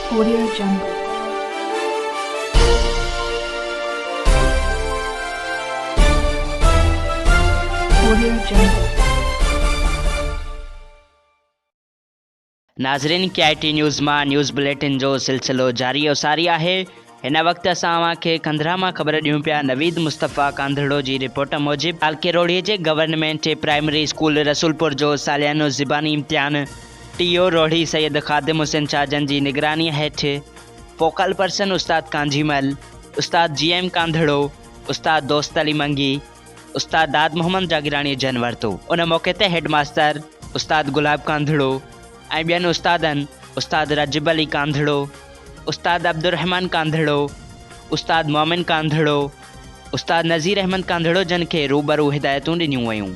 Korea جنگ، Korea جنگ. ناظرين ڪي آء ٽي نيوز مان نيوز بليٽن جو سلسلو جاري و ساري آهي. هن وقت اسان اوهان کي کنڌرا مان خبر ڏيون پيا نويد مصطفيٰ ڪانڌڙو جي رپورٽ موجب تعلقي روهڙي جي گورنمينٽ پرائمري اسڪول رسولپور جو ساليانو زباني امتحان ٽي او روهڙي سيد خادم حسين شاهه جن جي نگراني هيٺ فوڪل پرسن استاد ڪانجهيمل، استاد جي ايم ڪانڌڙو، استاد دوست علي منگي، استاد داد محمد جاگيراڻيء جنم ورتو. ان موقعي تي هيڊ ماستر استاد گلاب ڪانڌڙو ۽ ٻين استادن استاد راجب علي ڪانڌڙو، استاد عبدالرحمان ڪانڌڙو، استاد مومن ڪانڌڙو، استاد نذير احمد ڪانڌڙو جن کي روبرو هدايتون ڏنيون ويون.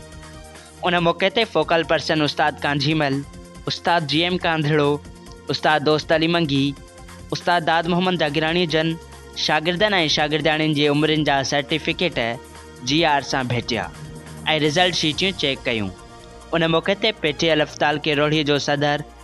ان موقعي تي فوڪل پرسن استاد ڪانجهي مل، استاد جي ايم ڪانڌڙو، استاد دوست علي منگي، استاد داد محمد جاگيراڻي جن شاگردن ۽ شاگردياڻين جي عمرين جا سرٽيفڪيٽ جي آر سان ڀيٽيا ۽ رزلٽ شيٽيون چيڪ ڪيون. ان موقعي تي پي ٽي ايل اف تعلقي روهڙي جو صدر،